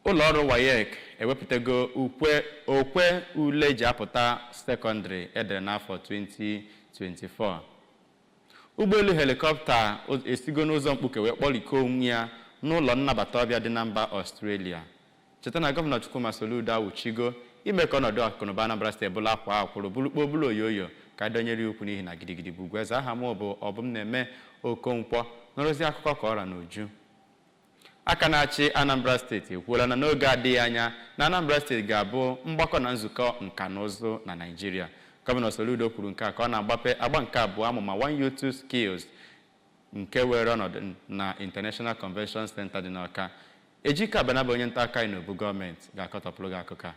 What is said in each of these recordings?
Ụlọọrụ Waec ewepụtago okwe ule eji apụta sekọndịrị e dere n'afọ 2024. Ụgbọelu helikọpta esigo n'ụzọ mkpuke wee kpọrikọọ onwe ya n'ụlọ nnabata ọbịa dị na mba Ọstrelia. Cheta na Gọvanọ Chukwuma Soludo awụchigo ime ka ọnọdụ akụnụba Anambra Steeti bụrụ a kwaa akwụrụ, bụrụ kpoo bụrụ oyoyo ka a dọnyere ya ukwu n'ihi na gidigidi bụ ugwu eze. Aha mụ bụ Obumneme Okonkwọ. Nụrụzie akụkọ ka ọ ra n'uju. Aka na-achị Anambra steeti ekwuola na n'oge adịghị anya na Anambra steeti ga-abụ mgbakọ na nzukọ nka na ụzụ na Naịjirịa. Gọvanọ Soludo kwuru nke a ka ọ na-agbape agba nke abụọ amụma One Youth Two Skills nke weere ọnọdụ na International Convention Center dị n'Awka. Ejike Abana bụ onye ntaakụkọ anyị n'obu gọọmenti ga-akọtọpụrụ gị akụkọ a.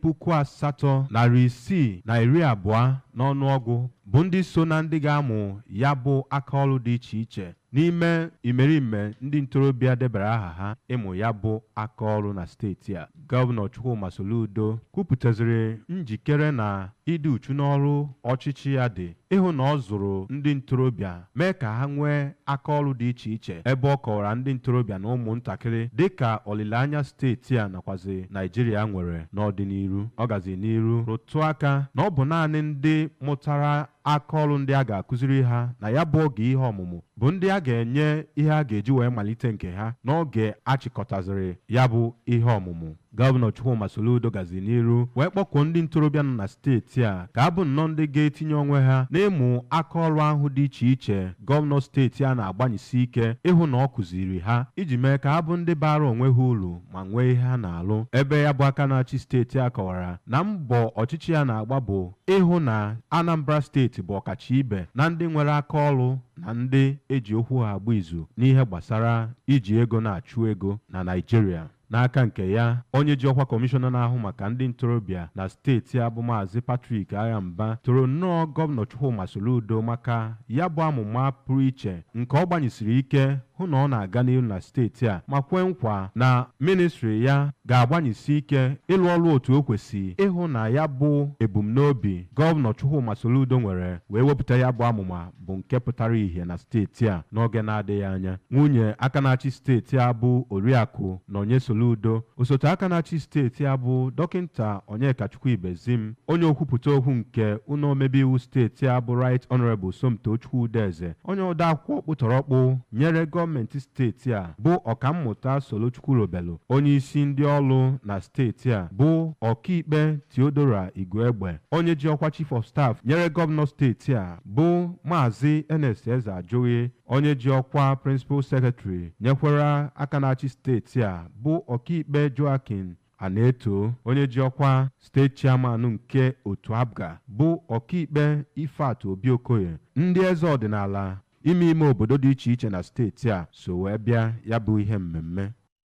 puku asatọ narị isii na iri abụọ n'ọnụọgụ bụ ndị so na ndị ga-amụ ya bụ aka ọrụ dị iche iche n'ime imerime ndị ntorobịa debara aha ha ịmụ ya bụ aka ọrụ na steeti a gọvanọ Chukwuma Soludo kwupụtaziri njikere na ịdị uchu n'ọrụ ọchịchị ya dị ịhụ na ọ zụrụ ndị ntorobịa mee ka ha nwee aka ọrụ dị iche iche ebe ọ kọwara ndị ntorobịa na ụmụntakịrị dịka olileanya steeti a nakwazi Naịjirịa nwere n'ọdịnihu ọ gazi n'iru rụtụ aka na ọ bụ naanị ndị mụtara aka ọrụ ndị a ga-akụziri ha na ya bụ oge ihe ọmụmụ bụ ndị a ga-enye ihe a ga-eji wee malite nke ha n'oge a chịkọtaziri ya bụ ihe ọmụmụ Gọvanọ Chukwuma Soludo gazi n'iru wee kpọkuo ndị ntorobịa nọ na steeti a ka ha bụ nnọọ ndị ga-etinye onwe ha n'ịmụ aka ọrụ ahụ dị iche iche gọvanọ steeti a na-agbanyesi ike ịhụ na ọ kụziri ha iji mee ka ha bụ ndị baara onwe ha uru ma nwee ihe ha na-alụ ebe ya bụ aka na-achị steeti a kọwara na mbọ ọchịchị ya na-agba bụ ịhụ na Anambra steeti bụ ọkacha ibe na ndị nwere aka ọrụ na ndị eji okwu ha agba izu n'ihe gbasara iji ego na-achụ ego na Naịjirịa N'aka nke ya, onye ji ọkwa Kọmishọna na-ahụ maka ndị ntorobịa na steeti a bụ Maazị Patrick Aghamba toro nnọọ Gọvanọ Chukwuma Soludo maka ya bụ amụma pụrụ iche nke ọ gbanyesiri ike hụ na ọ na-aga n'ihu na steeti a ma kwe nkwa na mịnịstrị ya ga-agbanyesi ike ịlụ ọrụ otu o kwesi ịhụ na ya bụ ebumnobi Gọvanọ Chukwuma Soludo nwere wee wepụta ya bụ amụma bụ nke pụtara ihe na steeti a n'oge na-adịghị anya. Nwunye aka na-achị steeti a bụ Oriakụ Nonye Soludo, osote aka na-achị steeti a bụ Dọkịnta Onyekachukwu Ibezim, onye okwupụta okwu nke ụlọ omebe iwu steeti a bụ Right Honourable Somtochukwu Udeze, onye ode akwụkwọ ọkpụtọrọkpụ nyere gọọmenti steeti a bụ Ọkammụta Solo Chukwulobelu, onye isi ndị ọrụ na steeti a bụ Ọkaikpe Theodora Igwegbe, onye ji ọkwa Chief of Staff nyere gọvanọ steeti a bụ Maazị Ernest Ezeajụghị onye ji ọkwa Principal Secretary nyekwara aka na-achị steeti a bụ ọkaikpe Joachim Anaeto onye ji ọkwa steeti chairman nke otu APGA bụ ọkaikpe Ifeatụ Obi Okoye ndị eze ọdịnala ime ime obodo dị iche iche na steeti a so wee bịa ya bụ ihe mmemme